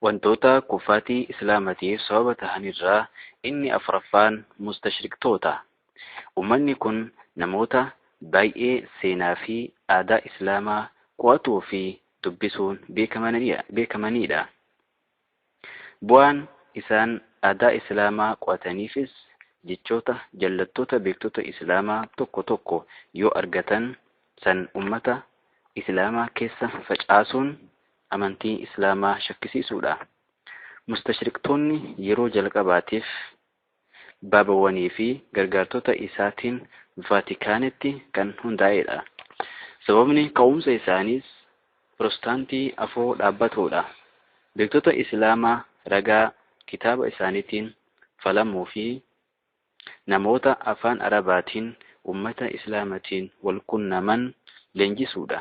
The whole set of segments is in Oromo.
Wantoota kuffaatii Islaamatiif sababa tahan irraa inni afraffaan mustashriqtoota. Ummanni kun namoota baay'ee seenaa fi aadaa Islaamaa qo'atuu fi dubbisuun beekamaniidha. Bu'aan isaan aadaa Islaamaa qo'ataniifis jechoota jallattoota beektota Islaamaa tokko tokko yoo argatan san ummata Islaamaa keessa facaasuun amantii Islaamaa shakkisiisuudha. Mustashriqtoonni yeroo jalqabaatiif Baabawwanii fi gargaartota isaatiin Vaatikaanitti kan hundaa'e dha. Sababni ka'umsa isaaniis Pirostaantii afoo dhaabbatoo dha. Beektota Islaamaa ragaa kitaaba isaaniitiin falamuu fi namoota afaan Arabaatiin ummata Islaamatiin wal qunnaman leenjisuu dha.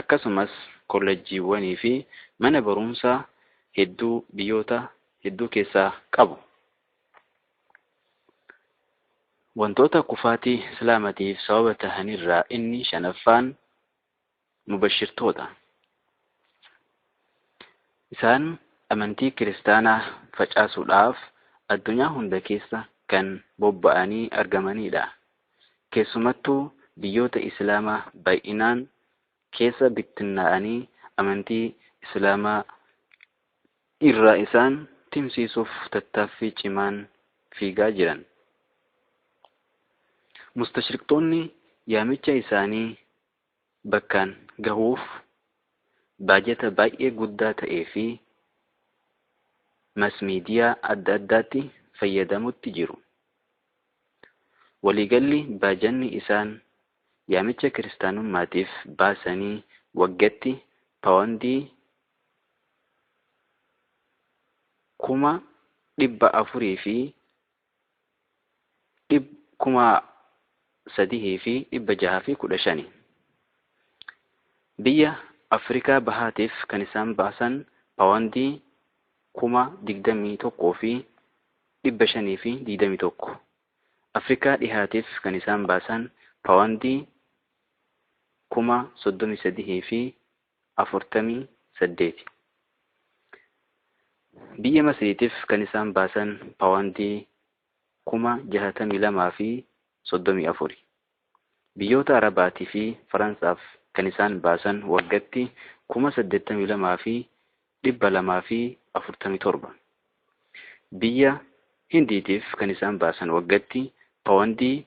Akkasumas kollejjiiwwanii fi mana baruumsaa hedduu biyyoota hedduu keessaa qabu. Wantoota kufaatii Islaamatiif sababa tahan irraa inni shanaffaan mubashirtoota. Isaan amantii kiristaanaa facaasuudhaaf addunyaa hunda keessa kan bobba'anii argamaniidha. Keessumattuu biyyoota Islaamaa bay'inaan keessa bittinnaa'anii amantii Islaamaa irraa isaan timsiisuuf tattaaffii cimaan fiigaa jiran. Mustashriqxoonni yaamicha isaanii bakkaan gahuuf baajata baay'ee guddaa ta'ee fi mass media adda addaatti fayyadamutti jiru. Waliigalli baajanni isaan yaamicha kiristaanummaatiif baasanii waggatti pawondii 450,000 dhib kuma sadihii fi dhibba jaha fi kudha shani biyya Afrikaa bahaatiif kan isaan baasan pawandii kuma digdamii tokkoo fi dhibba shanii fi digdamii tokko Afrikaa dhihaatiif kan isaan baasan pawandii kuma soddomii sadihii fi 48. Biyya Masriitiif kan isaan baasan paawandii 62,034. Biyyoota Arabaatii fi Faransaaf kan isaan baasan waggatti 82,247. Biyya Hindiitiif kan isaan baasan waggatti paawandii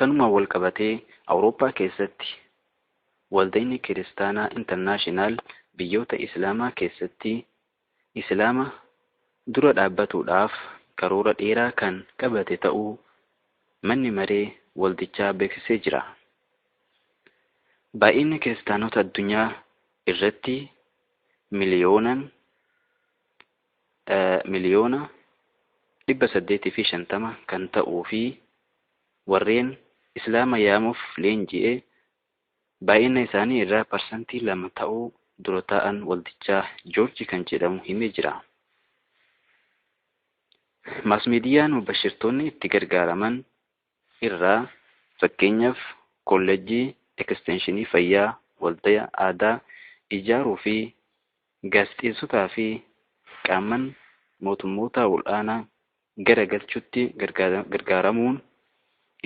Kanumaan wal qabatee Awurooppaa keessatti Waldayni Kiristaanaa Internaashinaal biyyoota Islaamaa keessatti Islaama dura dhaabbatuudhaaf karoora dheeraa kan qabate ta'uu Manni Maree Waldichaa beeksisee jira. Baay'inni Kiristaanota addunyaa irratti miliyoonan miliyoona 850 kan ta'uu fi warreen Islaama yaamuuf leenji'e baay'ina isaanii irraa parsantii 2 ta'uu dura taa'aan waldichaa Joorji kan jedhamu himee jira. Maasmiidiyaan mubashirtoonni itti gargaaraman irraa, fakkeenyaaf, Kolleejjii Ekisteenshinii Fayyaa, Waldaya Aadaa ijaaruu fi Gaazexeessotaa fi qaamman mootummootaa ol'aanaa gara galchuutti gargaaramuun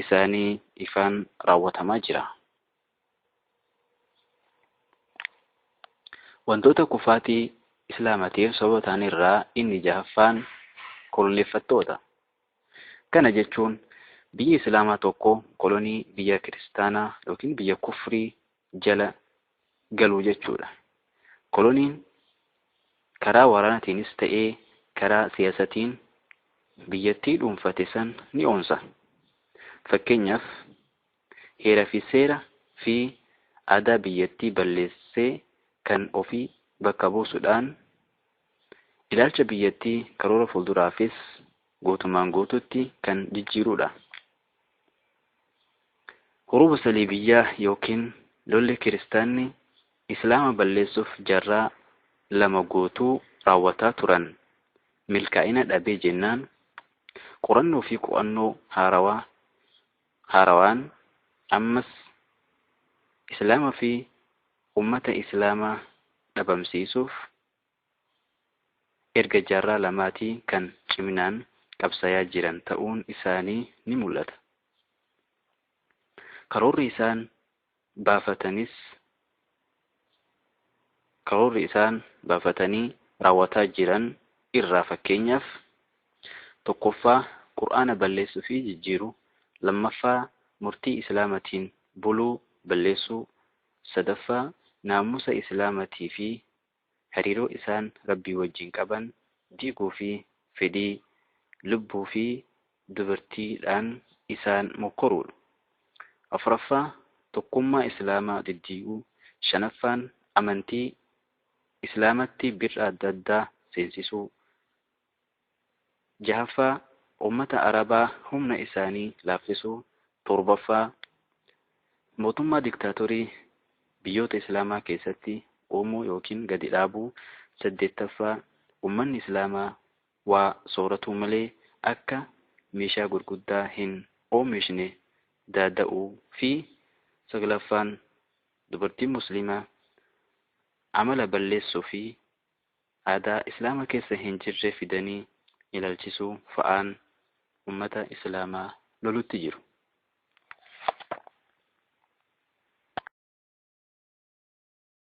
isaanii ifaan raawwatamaa jira. Wantoota kufaatii Islaamatiif sababa ta'an irraa inni jahaffaan koloneeffattoota. Kana jechuun biyyi Islaamaa tokko kolonii biyya kiristaanaa yookiin biyya kufrii jala galuu jechuudha. Koloniin karaa waraanatiinis ta'ee karaa siyaasatiin biyyattii dhuunfate san ni onsa. Fakkeenyaaf heera fi seera fi aadaa biyyattii balleessee kan ofii bakka buusu dhaan ilaalcha biyyattii karoora fuulduraafis guutumaan guutuutti kan jijjiiruu dha. Huruuba Saliibiyyaa ykn lolli Kiristaanni Islaama balleessuuf jaarraa lama guutuu raawwataa turan milkaa'ina dhabee jennaan, qorannoo fi qo'annoo haarawaa haarawaan ammas Islaama fi ummata Islaamaa dhabamsiisuuf erga jaarraa lamaatii kan ciminaan qabsayaa jiran ta'uun isaanii ni mul'ata. Karoorri isaan baafatanis karoorri isaan baafatanii raawwataa jiran irraa fakkeenyaaf, tokkoffaa Qur'aana balleessuu fi jijjiiruu, lammaffaa murtii Islaamatiin buluu balleessuu, sadaffaa naamusa Islaamatii fi hariiroo isaan Rabbii wajjiin qaban diiguu fi fedhii lubbuu fi dubartii dhaan isaan mokkoruu dha. Afuraffaa, tokkummaa Islaamaa diddiiguu. Shanaffaan, amantii Islaamatti bir'a adda addaa seensisuu. Jahaffaa, Ummata Arabaa humna isaanii laaffisuu. Torbaffaa, Mootummaa diktaatorii biyyoota Islaamaa keessatti uumuu ykn gadi dhaabuu. Saddeettaffaa, Ummanni Islaamaa waa sooratuu malee akka meeshaa gurguddaa hin oomishne daada'uu fi Saglaffaan, Dubartiin Muslimaa amala balleessuu fi aadaa islaama keessa hin jirre fidanii ilalchisuu fa'aan ummata islaama lolutti jiru.